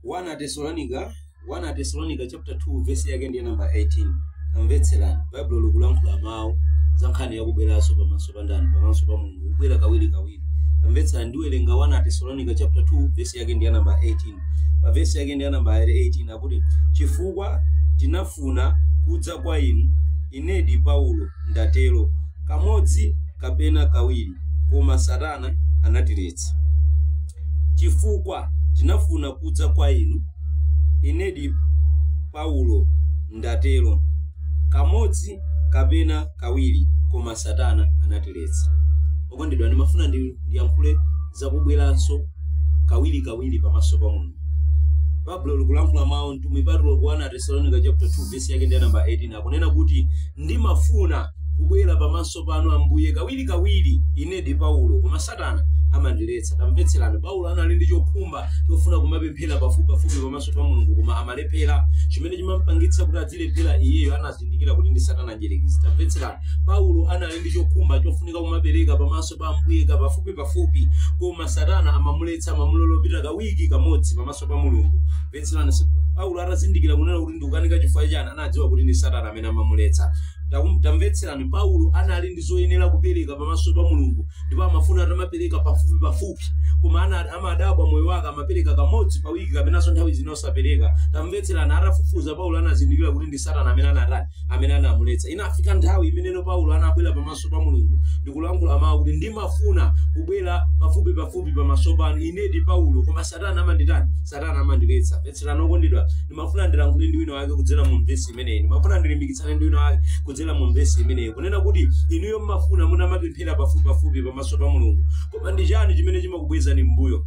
1 atesalonika chapter 2 verse yake ndiye namba 18 tamvetserani baibulo likulankhula mawu za nkhani yakubweranso pamaso pa ndani pamaso pa mulungu kubwera kawiri kawiri tamvetserani ndiwerenga 1 atesalonika chapter 2 verse yake ndiye namba 18 pa verse yake ndiye namba 18 akuti chifukwa tinafuna kudza kwa inu inedi paulo ndatero kamodzi kapena kawiri koma satana anatiletsa chifukwa tinafuna kudza kwa inu inedi paulo ndatero kamodzi kapena kawiri koma satana anatiletsa okondedwa ndimafuna ndi- ndiyankhule zakubweranso kawiri kawiri pamaso pa mulungu baibulo likulankhula mawu mtumwi paulo ku 1 atesalonika chapter 2 vesi yake ndi namba 18 akunena kuti ndimafuna kubwera pamaso panu ambuye kawiri kawiri inedi paulo koma satana amandiletsa tamvetserani paulo anali ndi chokhumba chofuna kumapemphera pafupipafupi pamaso pa mulungu koma amalephera chimene chimampangitsa kuti adzilephera iyeyo anazindikira kuti ndi satana mdyerekezi tamvetserani paulo anali ndi chokhumba chofunika kumapereka pamaso pa ambuye pafupipafupi koma satana amamuletsa amamulola kupita pa wiki kamodzi pamaso pa mulungu mvetserani paulo atazindikira kunena kuti ndikukanika chifukwa chani anadziwa kuti ndi satana amene amamuletsa Takum- tamvetserani paulo anali ndi zoyenera kupereka pamaso pa mulungu ndipo amafuna atamapereka pafupi pafupi koma ana- amadabwa moyo wake amapereka kamodzi pa wiki kapenanso nthawi zina osapereka tamvetserani atafufuza paulo anazindikira kuti ndi satana amene anatani amene anamuletsa inafika nthawi imeneno paulo anabwera pamaso pa mulungu ndikulankhula mawu kuti ndimafuna kubwera pafupi pafupi pamaso panu inedi paulo koma satana amanditani satana amandiletsa Mvetserani okondedwa, ndimafuna ndilankhule ndi wina wake kudzera mu vesi imeneyi. Ndimafuna ndilimbikitsane ndi wina wake kudzera mu vesi imeneyi. Kunena kuti inuyo mmafuna mutamapemphera pafupipafupi pamaso pa Mulungu. Koma ndi chani chimene chimakubwezani m'mbuyo?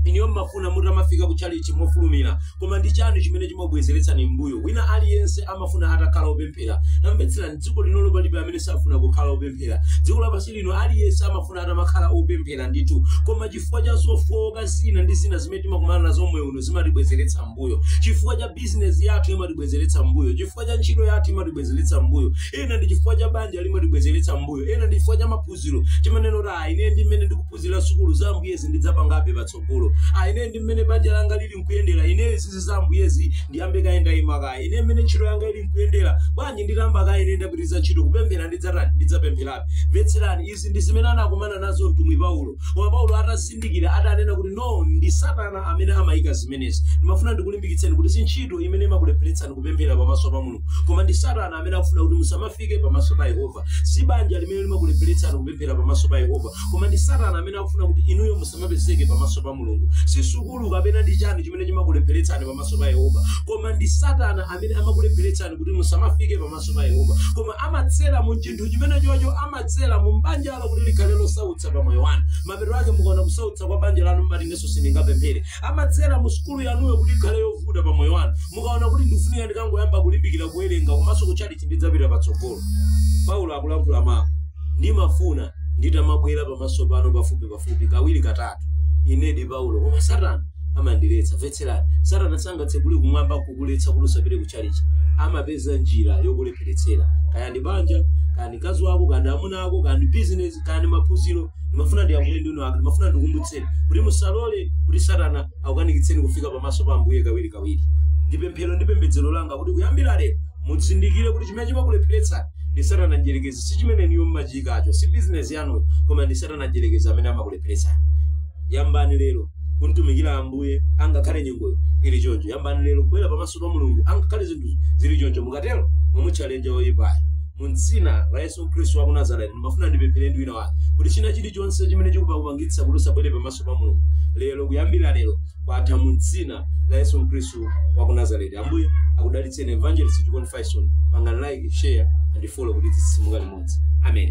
inuyo mmafuna mutamafika ku chalichi mofulumira koma ndi chani chimene chimabwezeretsani m'mbuyo wina aliyense amafuna atakhala opemphera tamvetserani dziko lino palibe amene safuna kukhala opemphera dziko lapansi lino aliyense amafuna atamakhala opemphera ndithu koma chifukwa cha zofowoka zina ndi zina zimene timakumana nazo moyo uno zimatibwezeretsa mbuyo chifukwa cha bizinesi yathu imatibwezeretsa mbuyo chifukwa cha ntchito yathu imatibwezeretsa mbuyo ena ndi chifukwa cha banja limatibwezeretsa mbuyo ena ndi chifukwa cha maphunziro timanena kuti ayi ine ndi mmene ndikuphunzira sukulu za ambuyezi ndidzapangabe patsogolo ayi ine ndi mmene banja langa lili nkuyendera ineyo zizi za ambuyezi ndiyambe kaye ndayima kaye ine mmene ntchito yanga ili nkuyendera bwanji nditamba kaye ine ndapitiriza ntchito kupemphera ndidzatani ndidzapempherabe mvetserani izi ndi zimene anakumana nazo mtumwi paulo koma paulo atazindikira adanena kuti no ndi satana amene amayika zimenezi ndimafuna ndikulimbikitseni kuti si ntchito imene imakulepheretsani kupemphera pamaso pa mulungu koma ndi satana amene akufuna kuti musamafike pamaso pa yehova si banja limene limakulepheretsani kupemphera pamaso pa yehova koma ndi satana amene akufuna kuti inuyo musamapezeke pamaso pa mulungu si sukulu kapena ndi chani chimene chimakulepheretsani pamaso pa yehova koma ndi satana amene amakulepheretsani kuti musamafike pamaso pa yehova koma amadzera mu chinthu chimene chocho ama adzera mu banja lanu kuti likhale losautsa pa moyo wanu mapeto ake mukaona kusautsa kwa banja lanu mmati inenso sindingapemphere amadzera mu sukulu yanuyo kuti ikhale yovuta pa moyo wanu mukaona kuti ndikufunika ndikangoyamba kulimbikira kuwerenga koma zakutchalitchi ndidzapita patsogolo paulo akulankhula mawu ndimafuna nditamabwera pamaso panu pafupi pafupi kawiri katatu ine ndi paulo koma satana amandiletsa mvetserani satana sangatsekule kumwamba kukuletsa kuti usapite ku chalichi amapeza njira yokulepheretsera kaya ndi banja mkazi wako kaya ndi amuna ako kaya ndi bizinesi kaya ndi maphunziro ndimafuna ndiyankhule ndi wina wake ndimafuna ndikumbutseni kuti musalole kuti satana akukanikitseni kufika pamaso pa ambuye kawiri kawiri ndi pemphero ndi pembedzero langa kuti kuyambira lero muzindikire kuti chimene chimakulepheretsani ndi satana mdyerekezi si chimene inuyo mmachiyikacho si bizinesi yanuyo koma ndi satana mdyerekezi amene amakulepheretsani yambani lero kumtumikira ambuye angakhale nyengoyo ili choncho yambani lero kubwera pamaso pa mulungu angakhale zinthu zili choncho mukatero mumuchallenger woyipayo mu dzina la yesu khristu wa ku nazareti ndimafuna ndipemphere ndi wina wake kuti china chilichonse chimene chikupa kupangitsa kuti usabwere pamaso pa mulungu lero kuyambira lero kwatha mu dzina la yesu khristu wa ku nazareti ambuye akudalitseni evangelist chikondi faison pangani like share and follow kuti tidzimuka limodzi amen